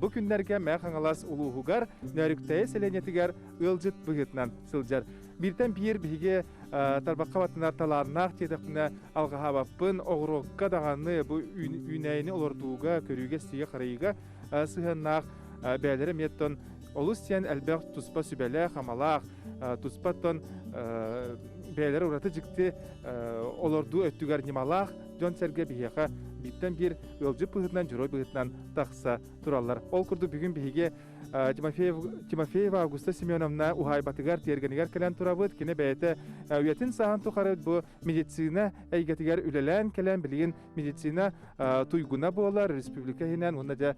Бу күннэргэ Мэ Хаҥалас улууһугар Нөөрүктэйэ сэлиэнньэтигэр ыалдьыт быһыытынан сылдьар. Бииртэн биир биһиги тарбахха баттанар талааннаах диэтэхпинэ алҕаһаабаппын оҕуруокка даҕаны бу үүнээйини олордууга көрүүгэ-сиигэ-харайыыга сыһыаннаах бэйэлэрэ эмиэ тон олус сиэн элбэх туспа сүбэлээх-амалаах туспа тон бэйэлэрэ ураты дьикти олордуу өттүгэр ньымалаах дьон-сэргэ биһиэхэ бииртэн биир ыалдьыт быһыытынан дьоруой быһыытынан тахса тураллар ол курдук бүгүн биһиги тимофеев тимофеева августа семеновна уһаайбатыгар тиэргэнигэр кэлэн турабыт кини бэйэтэ үйэтин сааһын тухары бу медицина эйгэтигэр үлэлээн кэлэн билигин медицина туйгуна буолар республика иһинэн уонна дьэ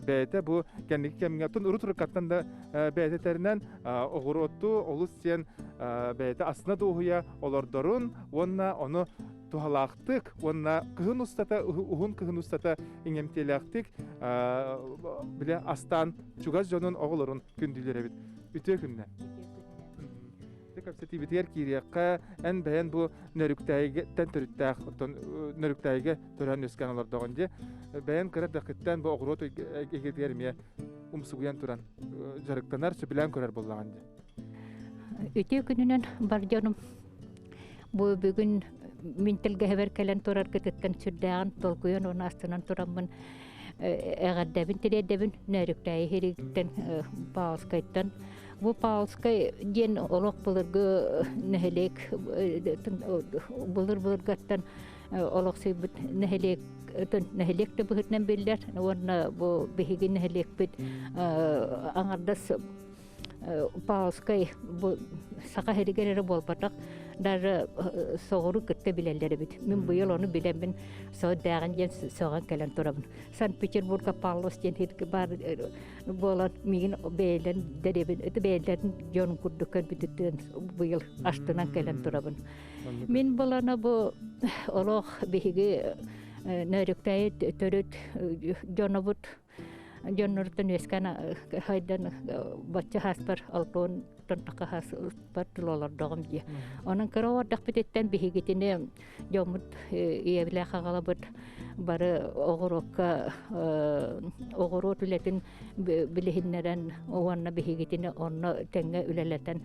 бэйэтэ бу кэнники кэмҥэттэн урут уруккаттан да бэйэтэ тэринэн оҕуруотту олус сиэн бэйэтэ астына дуоһуйа олордорун уонна ону туһалаахтык уонна кыһын устата уһун кыһын устата иҥэмтиэлээхтик бile астаан чугас дьонун оҕолорун күндүлэр эбит үтүө күннэ кэпсэтиибитигэр киириэххэ эн бэйэн бу нөрүктээйиттэн төрүттээх оттон нөрүктээйигэ төрөөн үөскээн олордоҕун дии бэйэн кыра дэхиттэн бу оҕуруот игитигэр эмиэ умсугуйан туран дьарыктанар сөбүлээн көрөр буоллаҕын дии Үтүө күнүнэн бар дьонум бу бүгүн мин тэлгэһэбэр кэлэн тураргытыттан сүрдээҕин толкуйан уонна астынан тураммын эҕэрдэбин тириэрдэбин Нөөрүктээйи хирииттэн Паулскайтан Бу Паулскай диэн олох былыргы нэһилиэк былыр-былыргаттан олохсуйбут нэһилиэк нэһилиэк да быһытынан биллэр уонна бу биһиги нэһилиэкпит аҥардас Павловскай бу саха иһигэр эрэ буолбатах даже соҕуру кытта билэллэр эбит мин быйыл ону билэммин соҕурдааҕын диэн сөҕөн кэлэн турабын санкт-петербурга павлос диэн ирки баар буолан миигин бэйэлэрин дэриэбин это бэйэлэрин дьон курдук көрбүтүттэн быйыл астынан кэлэн турабын мин балана бу олох биһиги нөрүктээйи төрүт дьонобут дьоннортон үөскээн хайдан бачча хаспар алтон тонтакка хас ыспар тулалордоҕум дии онон кыра ордахпытыттан биһигитини дьоммут ийэбилээх агалабыт бары оҕуруокка оҕуруот үлэтин билиһиннэрэн уонна биһигитини онно тэҥҥэ үлэлэтэн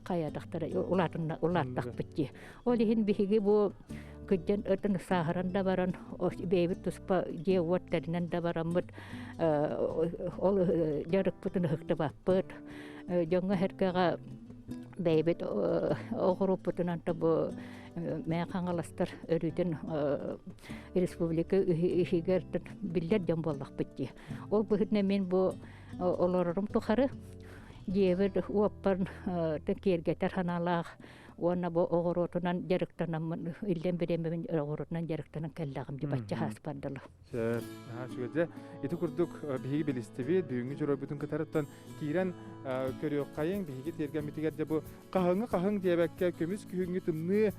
хайадахтара улаатынна улааттахпыт дии Ол иһин биһиги бу кыддьан ытын сааһыран да баран бэйэбит туспа дьиэ уот тэринэн да бараммыт ол дьарыкпытын ыһыктыбаппыт дьоҥҥо herкэҕэ бэйэбит оҕуруоппутунан тобу мээ хаҥаластар өрүтүн республика иһигэр биллэр дьон буоллахпыт дии ол быһытына мин бу олорорум тухары дьиэбит уоппар киэргэтэр ханаалаах уонна бу оҕуруотунан дьарыктанаммын иллэн бириэмэбин оҕуруотунан дьарыктанан кэллэҕим дии бачча хааспан дылы сөп аха үчүгэй ити курдук биһиги билистибит бүгүҥҥү дьоруойбутун кытарыттан киирэн көрүөххайыҥ биһиги тиэргэммитигэр дьэ бу хаһыҥы хаһыҥ диэбэккэ көмүс күһүҥҥү тымныы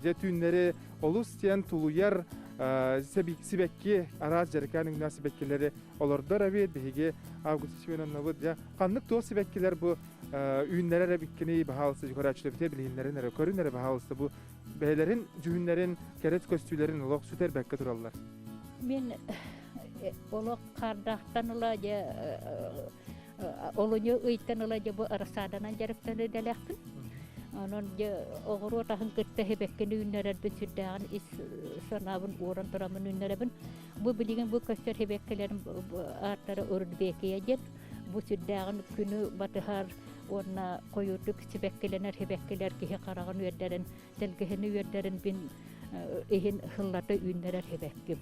дьэ түүннэри олус диэн тулуйар сибэкки араас дьарыкаан үҥнээх сибэккилэри олордор эбиэт биһиги август семеновнабыт дьэ ханнык туох сибэккилэр бу үүннэрэр эбиккиний баһаалыста көрөөччүлэбитэ билиһиннэрин эрэ көрүн эрэ баһаалыста бу бэйэлэрин дьүһүннэрин кэрис көстүүлэрин олох сүтэр бэккэ тураллар мен э, олох хардахтан ыла же э, э, олуню ыйтан ыла же бу арсааданан жарыктаны дэлэхпин онон же оҕуруот аһын кытта хебеккин үүннэрэрбин сүрдээҕин ис санаабын уоран турамын үүннэрэбин бу билигин бу көстөр хебеккелерим ааттара үрдбекия диэн бу сүрдээҕин күнү батыһар уонна хойуурдук сибэккилэнэр сибэккилэр киһи хараҕын үөрдэрин сэлгэһини үөрдэрин мин иһин сыллата үүннэрэр сибэкким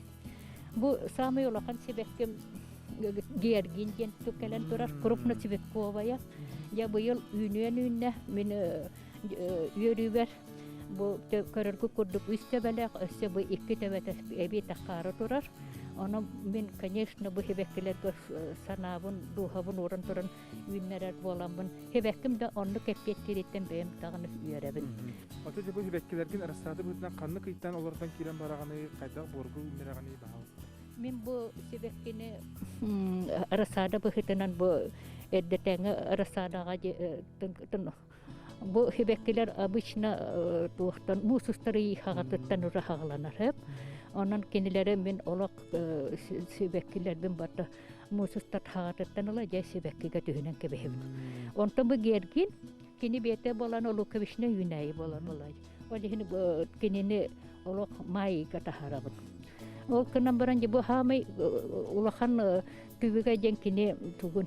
бу самый улахан сибэкким георгин диэн кэлэн турар крупносибекковая я быйыл үүнүөн үүннэ мин үөрүүгэр бу көрөргү курдук үс төбөлөөх өссө бу икки төбөтө эбиэтэх хаары турар ону мин конечно бу хибэккилэргэ санаабын дууһабын ууран туран үүннэрэр буоламмын хибэкким да оннук эппиэттэриттэн бэйэм даҕаны үөрэбин оту дьэ бу хибэккилэргин растраты быһыытынан ханнык ыйтан олортон киирэн бараҕыный хайдах буоргу үүннэрэҕиний баһаалыста мин бу сибэккини рассада быһыытынан бу эрдэтээҥи рассадаҕа Бу хибеккилер обычно э, туохтан муус устары хаҕатыттан ура хаҕыланар Онон кинилэри мин олох э, сибэккилэрбин барда муусустар хаҕатыттан ыла дьэ сибэккигэ түһүнэн кэбиһэбин. Онтон бу гергин кини биэтэ болан олукковична үүнэйи болан олай. Ол иһин кинини олох майыга таһарабын. Ол кынан баран бу хаамай улахан түбүгэ ден кини тугун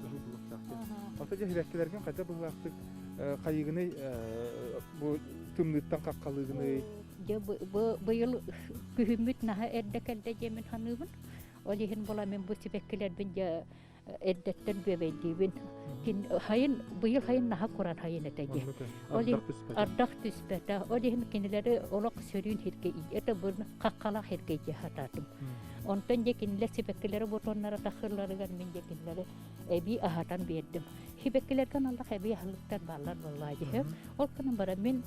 кыһыл былыттаахтык. Оттон дьэһибэккилэргин хайда быһыылаахтык хайыгыный бу тымныыттан хаххалыгыный? Дьэ быйыл күһүммүт наһа эрдэ кэлдэ дьиэмин ханыыбын. Ол иһин буламин бу сибэккилэрбин дьэ эрдэттэн бүөбэйдиибин. Хайын быйыл хайын наһа куран хайын этэ дии. Ол иһин ардах түспэтэ. Ол иһин кинилэри олох сөрүүн хиргэ ийэ табын хаххалах хиргэ дии хатаатым. Онтон дьэ кинилэр сибэккилэри бутоннара тахыыларыгар мин дьэ кинилэри эбии аһатан биэрдим. Сибэккилэргэ налах эбии аһылыктар бааллар буоллаа дьиһэ. Ол гынан баран мин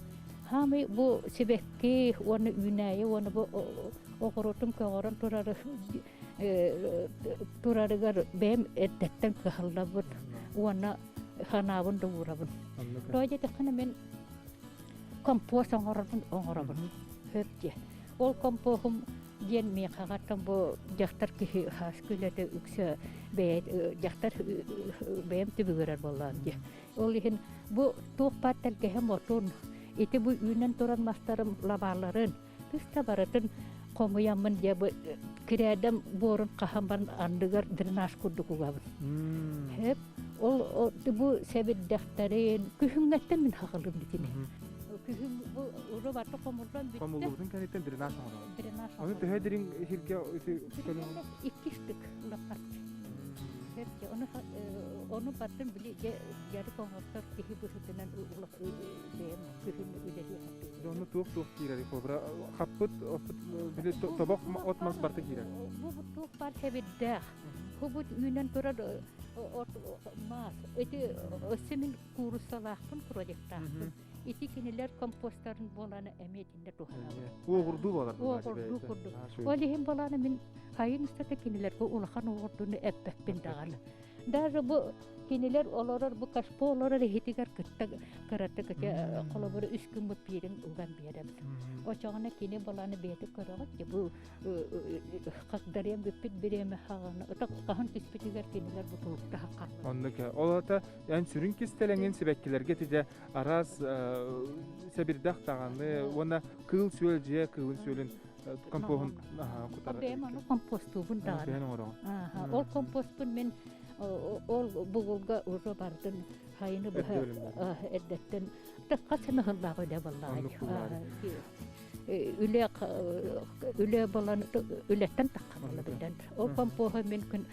хаамый бу сибэкки уонна үүнээйи уонна бу оҕуруотун көҕөрөн турары турарыгар бэйэм эрдэттэн кыһаллабын уонна ханаабын да уурабын. Тоҕо диэтэххинэ мин компост оҥоробун оҥоробун. Хөп дии. Ол компоһум диэн миэхэҕаттан бу дьахтар киһи хас күнэтэ үксэ бэйэ дьахтар бэйэм түбүгүрэр буоллаҕым дии ол иһин бу туох баар тэлгэһэ мотун ити бу үүнэн туран мастарым лабааларын тыста барытын хомуйаммын дьэ бу кирээдэм буорун хаһаммын андыгар дренаж курдук угабын эп ол бу сэбирдэхтэрин күһүҥҥэттэн мин хахалым итини күһүн бу уру баты хомуллан бүттэ хомуллубутун кэнниттэн дренаж оҥорон Аны төһө дириҥ сиргэ Икки штык Оны оны бардым били жары коңоттор киһи быһытынан улах бэйэм кыһын үлэлии Оны туох туох киирэр кобра хаппыт оппут били тобох от мас барты киирер Бу туох бар хебирдээх Хубут үүнэн турар от маас эти симин куурусалаахпын projectaахпын ити кинилэр компостарын буоланы эмиэ итиннэ туһанабын. Уоҕурдуу буолар Уоҕурдуу курдук. Ол иһин боланы мин хайын устата кинилэргэ улахан уоҕурдууну эппэппин даҕаны. Даже бу кинилэр олорор бу кашпо олорор иһитигэр кытта кыратык холобур үс күн бу пиирин уган биэрем. Очоҕуна кини баланы бэйэтэ көрөҕүт бу хагдарыам бүппүт бириэмэ хаҕаны ытак хаһан түспүтүгэр кинилэр бутулуктаха хат. Оннук. Ол ата Эн сүрүн кистэлэҥин сибэккилэргэ тиде араас сэбирдэх даҕаны уонна кыыл-сүөл дьиэ кыылын-сүөлүн компоһун кутара. Бэйэм ону компостуубун даҕаны. Бэйэн оҥороҕун. Ол компостпун мин ол бугулга уже бардын хайыны быһа эрдэттэн хас сыныһыннаах үлэ буолла. үлэ үлэ болан үлэттэн тахханна билэн ол компоһа мин күн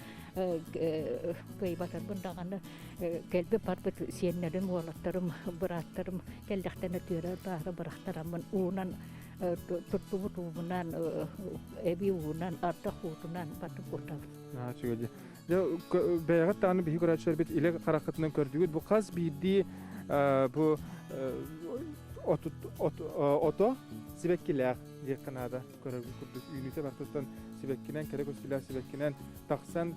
кыйбатарбын даҕаны кэлби барбыт сиэннэрим уолаттарым бырааттарым кэллэхтэн өтүөрэ баара бырахтараммын уунан турдубут уубунан эби уунан ардах уутунан батып утабын бэйэҕит дааны биһи көрөөччүлэрбит илэ хараххытынан көрдүгүт бу хас биирдии бу ото сибэккилээх диэххэ наада көрөргүт курдук үүнүүтэ бартыттан сибэккинэн кэрэ көстүүлээх сибэккинэн тахсан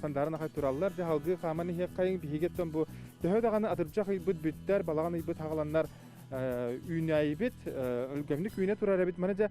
сандаарын ахай тураллар дьэ халгыы хааман иһиэххэйин биһигиттэн бу төһө даҕаны атырдьах ыйбыт бүттэр балаҕан ыйбыт хаҕаланнар үүнээйибит өлгөмнүк үүнэ турар эбит маны дьэ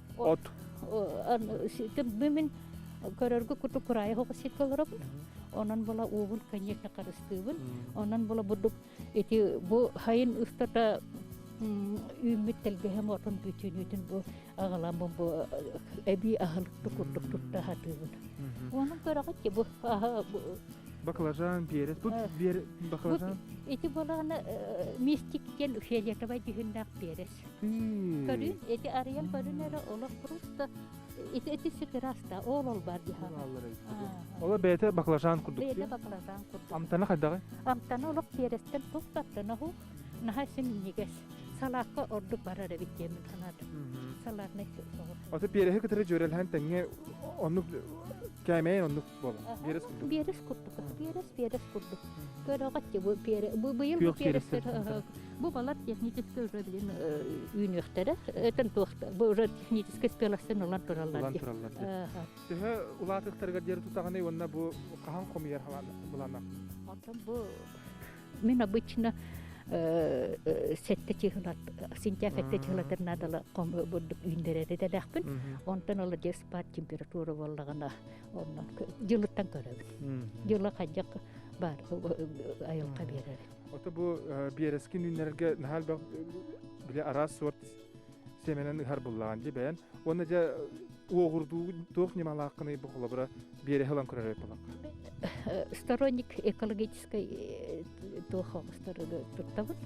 от мин көрөргө курдук кураайы хоҕо сиргэ олоробун онон була уобун конечно харыстыыбын онон була бурдук ити бу хайын устата үүммүт тэлгэһэм отун бүтүүнүүтүн бу аҕаламмын бу эбии аһылыкты курдук тутта сатыыбын онон көрөҕүт бу баклажан перец бу баклажан ити балааны мистик диэн фиолетовай дьүһүннээх перец Көрүн, ити арыйан көрүн эрэ олох просто ити ити сыгыраста ол ол бар диһа. Ола бэйте баклажан курдук. Бэйте баклажан курдук. Амтана хайдаҕы? Амтана олох тиэрестен туттаттынаһу наһа симнигес. Салаакка ордук барар эбит диэмин санаатым. Салаарнай соҕу. Ото пиэрэһи кытары дьөрөлһән тэҥҥэ оннук кээмэйин оннук Биэрэс курдук. Биэрэс курдук. Биэрэс, биэрэс курдук. Көрөҕөт бу быйыл бу биэрэстэр бу балар технический уже блин үүнүөхтэрэ. Этен туохта бу уже технический спеластен улан тураллар. Улан тураллар. Төһө улаатыктарыгар диэри тутаҕаны уонна бу хаһан хомуйар булана. Оттон бу мен обычно сетте чыгылат сентябрь сетте чыгылатыр надала ком бурдук үүндерери делахпын онтон ола диэс пар температура боллагана Онно дьылыттан көрөбүн. Дьыла хайдах бар айылҕа биэрэр. Ото бу биэрэски үүннэрэргэ наһаа били араас сорт семенен ыһар буллаҕан дьи бэйэн уонна дьэ уоҕурдуу туох ньымалааххыный бу холобура биэрэһи ылан көрөр буоллаҥ сторонник экологической туохох стороны туттабын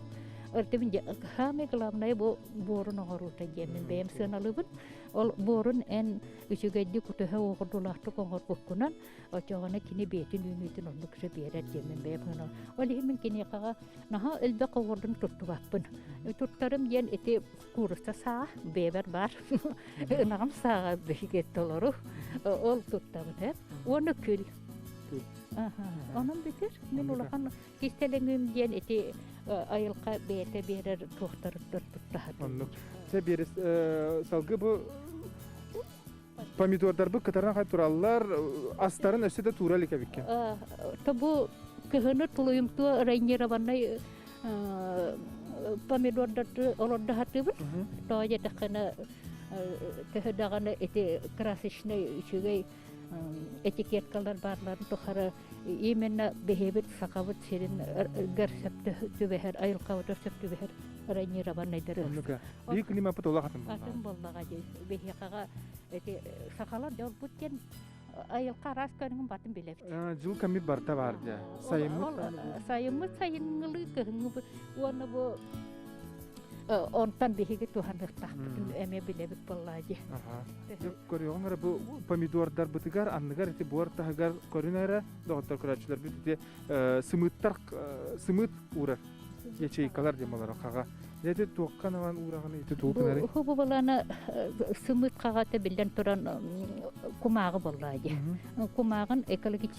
артыбын хаамы главное бу буорун оҕоруута диэмин бэйэм сыаналыбын Ол буорун эн үчүгэйдик утыһа оҕурдулаахтык оҥорбуккунан очоҕоно кини бэйэтин үүнүүтүн оннук сөп биэрэр диэммин бэйэ гынан ол иһин мин киниэхэҕэ наһаа элбэх оҕурдун туттубаппын туттарым диэн ити кууруса саа бэйэбэр баар ынаҕым сааҕа биһиги толору ол туттабыт уонна күл онон битир мин улахан Кистэлэҥим диэн ити айылҕа бэйэтэ биэрэр туохтарыттан туттаһатын. Оннук. Чэ биэрэс салгыы бу помидордарбыт кытаран тураллар астарын өссө да туура илик эбиккин. То бу кыһыны тулуйумтуо райнированный помидордарды олордохатыбыт. Тоо детэххена төһө даҕаны ити красочный үчүгэй этикеткалар баалларын тухары именно бэһиэбит сахабыт сирин ыргар сөптө түбэһэр айылхабыт сөп түбэһэр ранированныйдары оннука биир климаппыт олох атын атын боллаға дей бэһиэхаға эти сахалар дьолбут диэн айылқа араас көрүҥүн батын билэбит жыл кэммит барта бар дьа сайыммыт сайыммыт сайыңылы кыһынгы уонна бу Онтон биһиги туһаныахтаахпытын эмиэ билэбит буоллаа дии. Көрүөҕүҥ эрэ бу помидордарбытыгар анныгар ити буор таһыгар көрүн эрэ доҕоттор көрөөччүлэрбит ити сымыыттар сымыыт уурар ячейкалар диэн болоро хаҕа ити туохха наван уураҕын ити туутунарый бу балана сымыыт хаҕата биллэн туран кумааҕы боллаа дии кумааҕын экологически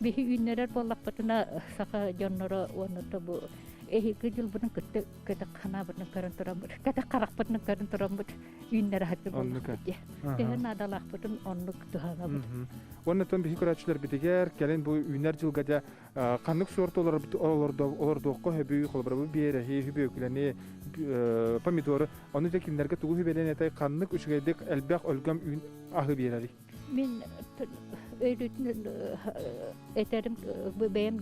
Биһи үүннэрэр буоллахпытына саха дьонноро уонна бу эһиги дьылбытын кытта кэтэх ханаабытын көрөн тураммыт кэтэх харахпытын көрөн тураммыт үүннэрэ сатыыр боллахпыт диэ тэһэ наадалаахпытын оннук туһанабыт оннуттан биһи көрөөччүлэрбитигэр кэлин бу үүнэр дьылга дьэ ханнык суорт олордуохха хөбүй холобура биэрэһи хүбүөкүлэни помидоры ону дьэ кинилэргэ тугу хүбэлэн этэй ханнык үчүгэйдик элбэх өлгөм үүн аһы биэрэрий Мин өйдүүтүн этэрим бэйэм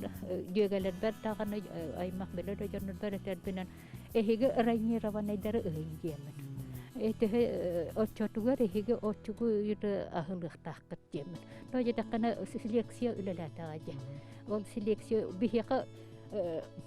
дьүөгэлэрбэр даҕаны аймах билэр дьоннорбор этэрбинэн эһиги ранированныйдары ыйын диэмин. Итиһи оччотугар эһиги оччугу үйдө аһылыахтаахкыт диэмин. Но дьэтэххинэ лекция үлэлээтэҕэ дии. Ол селекция биһиэхэ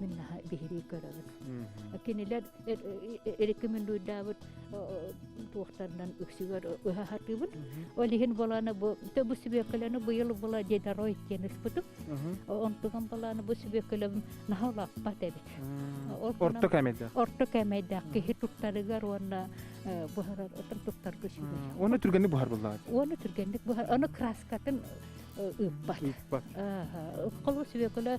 мин наһаа биһирии көрөбүн кинилэр рекомендуйдаабыт туохтарынан үксүгэр ыһа сатыыбын ол иһин баланы бу бу сүбүөккөлөнү быйыл была дедорой диэн ыспытым онтуган баланы бу сүбүөккөлөбүм наһалаппат эбит орто кэмэйдээх орто кэмэйдээх киһи туттарыгар уонна буһарар туттарга сүбэ оны түргэнник буһар буллаҕыт оны түргэнник буһар оны краскатын ыыппат ыыппат холу сүбүөкөлө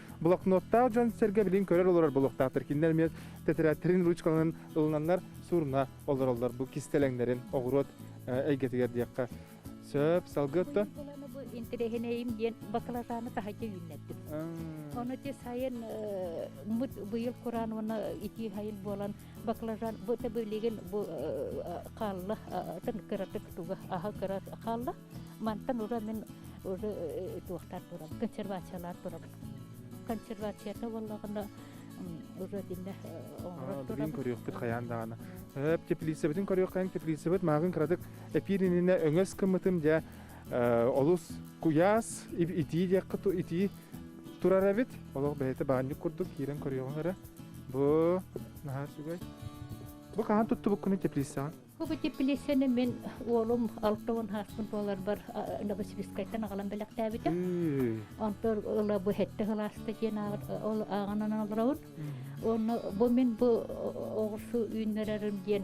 блокноттаах дьон-сэргэ билин көрөр олорор болуохтаахтар кинилэр эмиэ тэтэрээттэрин ручкаларын ылынаннар сурна олороллор бу кистэлэҥнэрин оҕуруот эйгэтигэр диэххэ сөп салгы отто интэриэһинэйим диэн бакылатааны таһайга үүннэрдим ону ти сайын мут быйыл куран уона итии хайыл буолан баклажан быта билигин бу хаалла тын кыратык туга аха кырат хаалла мантан ура мин уже туохтар турам консервациялар турам консервацията боллагына уже динне билин көрүөхпүт хаян даана эп теплицабытын көрүөххэн теплицабыт магын кыратык эпириніне өңөс кымытым дя олус куяс итии диэккэ итии турар эбит олох бэйэтэ баанньык курдук киирэн көрүөҕүҥ эрэ бу наһаа үчүгэй бу хаһан туттубуккунуй теплицаҕа Бу теплицаны мен уолум алтыын хааспын туоларбар Новосибирскайтан аҕалан бэлэхтээбитим. Онтон ыла бу хетте ылааста диэн ол ааҕанан олоробун. Онно бу мен бу оҕурсу үүннэрэрим диэн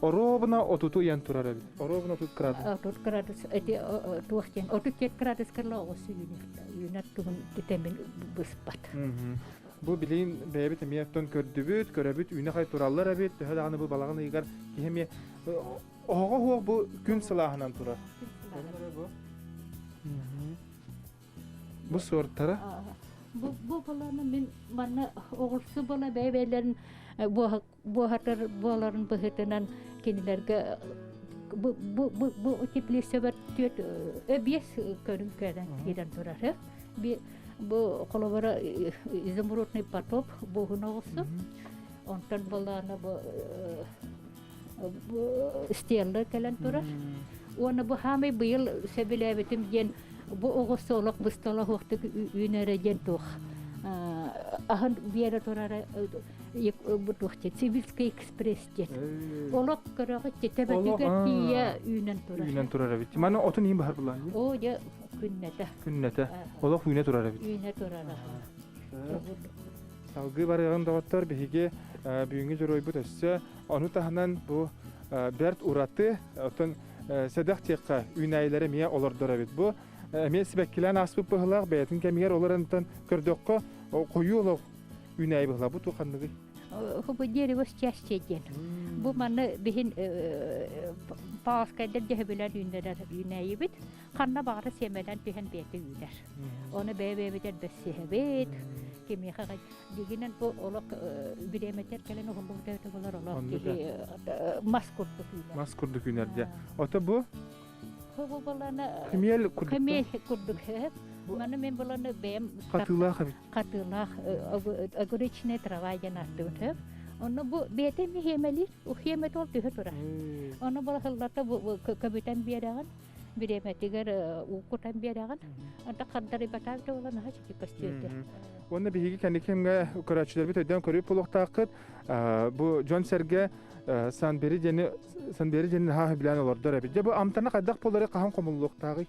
Оруобуна отуту ыйан турар эбит. Оруобуна отут градус. Отут градус эти туох диэн отут жеть градускарла оҕус үүнэрдэ. Үүнэр туһун үтэмин быспат. Бу билин бэйэбит эмиэ оттон көрдүбүт, көрөбүт үүнэ хай тураллар эбит, төһө даҕаны бу балаҕан ыйыгар киһи эмиэ оҕоҕо уох бу күн сылааһынан турар. Бу суортара. Бу бу баланы мин манна оҕурсу бала бэйбэлэрин буоһатыр буоларын быһытынан кинилэргэ бу бу бу бу теплицебэр түөт өбиэс көрүн көрөн киирэн турары би бу холобура изумрудный потоп буһуноҕусу онтон болаана бу стеллы кэлэн турар уонна бу хаамый быйыл сөбүлээбитим диэн бу оҕо солох быстолоһуохтук үүнэрэ диэн туох аһын биэрэ турара Сибирский экспресс диэн. Олох көрөҕө титэбэтигэр тиийэ үүнэн турар. Үүнэн турар эбит. Маны отун иин баһар булан. Оо дьэ күннэтэ. Күннэтэ. Олох үүнэ турар эбит. Үүнэ турар. Салгыы барыаҕын доҕоттор биһиги бүгүҥҥү дьоруойбут өссө ону таһынан бу бэрт ураты оттон сэдэх тиэххэ үүнээйилэри эмиэ олордор эбит бу эмиэ сибэккилээн ааспыт быһылаах бэйэтин кэмигэр олоронтан көрдөххө хойуу олох Үүнээйи ту ханныгый? Хубу дерево счастье диэн. Бу манны биһин пааскайдыр дьэһбилэн үүннэрэр үүнээйибит. Ханна баары сиэмэлэн түһэн бэти үүнэр. Оны бэбэбитер бэссиһэбит. Кимиэхэ дигинен бу олох биреметер кэлен ухумбугда өтө болар олох мас курдук үүнэр. Мас курдук үүнэр дьэ. Ото бу? Хубу баланы. Кымел курдук. Кымел курдук. Маны мен баланы бэм. Хатыылаах эбит. хатылах огуречные трава диэн ааттыбыт онно бу бэйэтэ миһиэмэлиир ухиэмэ туол түһэ турар ону балахыллата көбүтэн биэрэҕин бириэмэтигэр уукутан биэрэҕин онто хардары батаак да болан аһа чики көстүөрдэ уонна биһиги кэнникимгэ көрөөччүлэрбит өйдөөн көрүп булуохтааххыт бу дьон сэргэ санбери диэни санбери диэни наһаа билээн олордор эбит дьэ бу амтана хайдах буолары хаһан хомуллуохтааҕый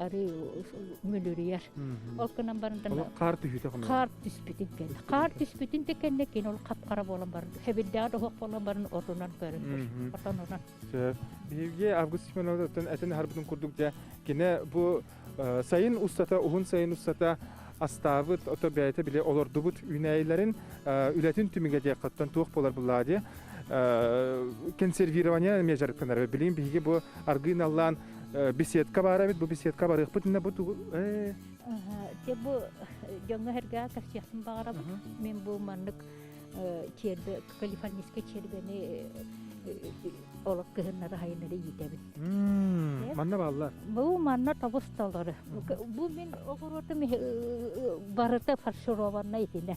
арыы мүлүрүйэр. Ол гынан баран хаар түһүтэ хаар түспүтүн кэннэ. Хаар түспүтүн да кэннэ кин ол хапхара буолан баран хэбирдэҕэ доһох болон баран отунан көрөн тур. Отон онон. Сөп. Биһиги Август Семеновтан этин харбытын курдук дьэ кине бу сайын устата уһун сайын устата астаабыт ото бэйэтэ биле олордубут үүнэйилэрин үлэтин түмүгэ диэккаттан туох болар буллаа дии консервирование межарыкканары билим биһиги бу аргыын аллаан беседка баарабыт бу беседка барыахпыт инне бу бу дьоҥҥо хэрgaa кэпсиэхпин баҕарабын мен бу маннык черді калифорнийскай чербени олох кыһыннары хайынары иитэбин манна бааллар бу манна тобусталары бу мен огоротум барыта фаршированная итинэ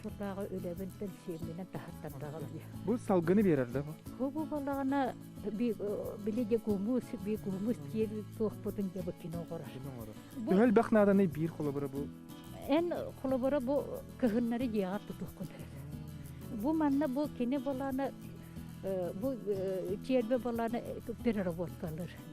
сылааҕы үлэбин кэнсиэмминэн таһаттардаҕым дии. Бу салгыны биэрэр да бу? Бу буоллаҕына били дегумус, бегумус диэбит туохпутун дьэ бу кино оҥорор. Төһө элбэх нааданы биир холобура бу? Эн холобура бу кыһыннары дьиэҕэ тутуоххун. Бу манна бу кини балааны бу тиэрбэ балааны переработкалыр.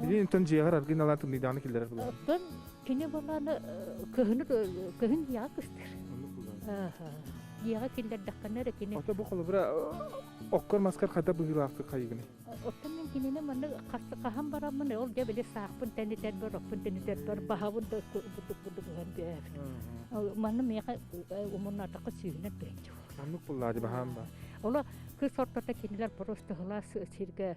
Билиэнтэн дьиэҕэр аргыналаан тымныйдаҕына киллэрэр булан. Оттон кини бумааны кыһыны кыһын дьиэҕэ кыстыыр. Дьиэҕэ киллэрдэххинэ эрэ кини. Ото бу холобура оккор-маскар хайдах быһыылаахтык хайыгыный? Оттон мин кинини манна хаһан бараммын ол дьэ били саахпын тэнитэрбэр, оппун тэнитэрбэр баһабын да бутук бутук гыһан түһээбит. Манна миэхэ умуннаатахха сүүһүнэн тыһынча. Маннык буллаа дии баһаам ба. Оло кыс ортото кинилэр просто сиргэ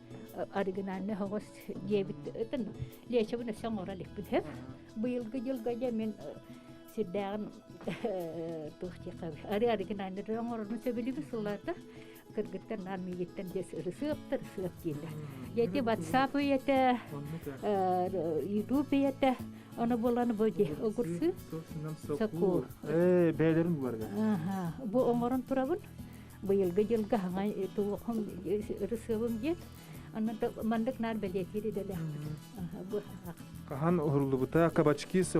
оригинальный хоҕус диэбит ытын лечебын өссө оҥоро иликпин һэ быйылгы дьылга дьэ мин сирдээҕин туохтиэхха ары оригинальныйдары оҥорорну сөбүлүүбүн сылларда кыргыттан аан миигиттэн диэс ырысыаптар сыап дииллэр дьэти ватсап үйэтэ ютуб ийэтэ ону буланы бу ди огурсу сокуу бээлерин бугарга бу оҥорон турабын быйылгы дьылга хаҥа туохум ырысыабым диэн онно маннык наар бэлиэтиир идэлээхпит хаһан уһуллубута кабачки с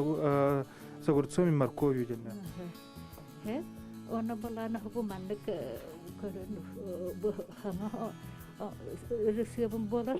огурцом и морковью дэнэ оно балана бу маннык көрөн хаҥа ырысыабым болар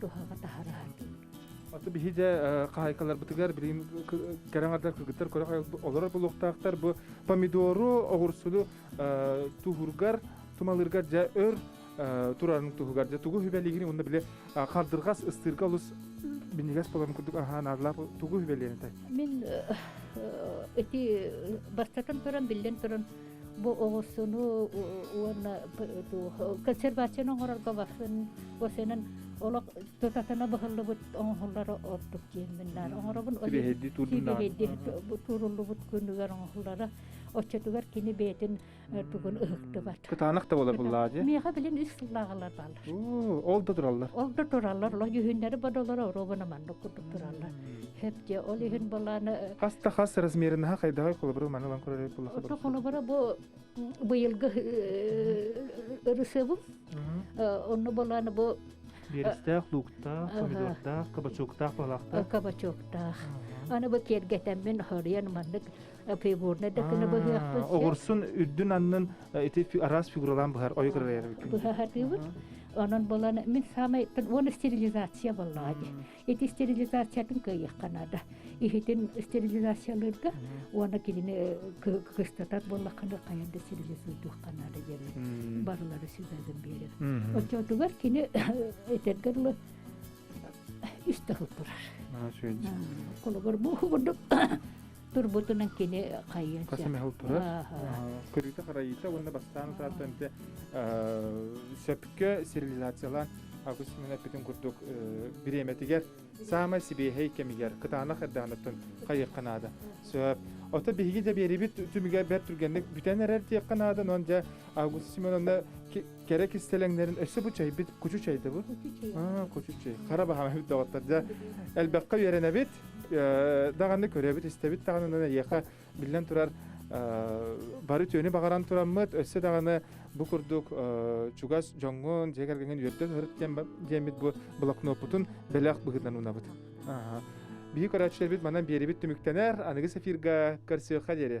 туһаҕа таһараһа дии Аты биһи дьэ хаһайкаларбытыгар билин кэрэҥардар кыргыттар көрө олорор булуохтаахтар бу помидору оҕурсулу туһургар тумалыргар дьэ өр турарын туһугар дьэ тугу хүбэлигин уонна били хардыргас ыстыырга олус бинигас болон курдук аһаан ааллаах тугу хүбэлиэн этэй мин ити бастатан туран биллэн туран бу оҕурсуну уонна консервацияны оҥорорго басын басынан олох тутатына быһыллыбыт оҥоһуллара ордук диэммин наар оҥоробун тууруллубут күнүгэр оҥоһуллара оччотугар кини бэйэтин тугун ыһыктыбат кытаанах да була буллаа дии миэхэ билин үс сыллааҕылар бааллар Ол да тураллар. Ол да тураллар. Олох дьүһүннэри бодолоро оруобана маннык курдук тураллар. Хепте ол иһин баланы хас да хас размерин ха хайдаҕай холобура маны лан көрөрөй буллаха. Ото холобура бу быйылгы ырысыбым. Онно баланы бу Берестах, луктаах, помидордаах, кабачоктаах, балахтаах. Кабачоктаах. Аны бу тергетеммен хорьян маннык фигурнай да күнө быһыахпыт огурсун үрдүн аннын ити араас фигуралаан быһар ойгырайарбыт быһаһатыыбыт онон булан мин саамай уон стерилизация боллаҕа ди ити стерилизациятын кыайыахха наада иһитин стерилизациялыырга уона кинини кыстатар боллахханы хайан да стерилизуйдуохха наада диэбит барылары сүбэбин биэрэр оччотугар кини этэргэр ыла үстэ турар холобур бу курдук турбутунан кини хайыан көрүүтэ-харайыыта уонна бастаан тааттанты сөпкө стерилизациялаан Август Семен эппитин курдук бириэмэтигэр саамай сибиэһэй кэмигэр кытаанах эрдаанаттан хайыахха наада сөп ото биһиги дэ биэрибит түмүгэр бэрт түргэнник бүтэн эрэр диэххэ наада нон дьэ Август Семеновна кэрэ кистэлэҥнэрин өссө бу чэйбит кучу чэй да бу кучу чэй хара баһаама үрдоҕоттор дьэ элбэххэ үөрэнэбит даҕаны көрөбүт истэбит даҕаны эйиэхэ биллэн турар бары түөнү баҕаран тураммыт өссө даҕаны бу курдук чугас дьоҥҥун дьиэ кэргэҥҥин үөрдэн ырыт диэммит бу блокноппутун бэлэх быһыытынан уунабыт биһи көрөөччүлэрбит манан биэрибит түмүктэнэр аныгы сефирга көрсүөххэ диэри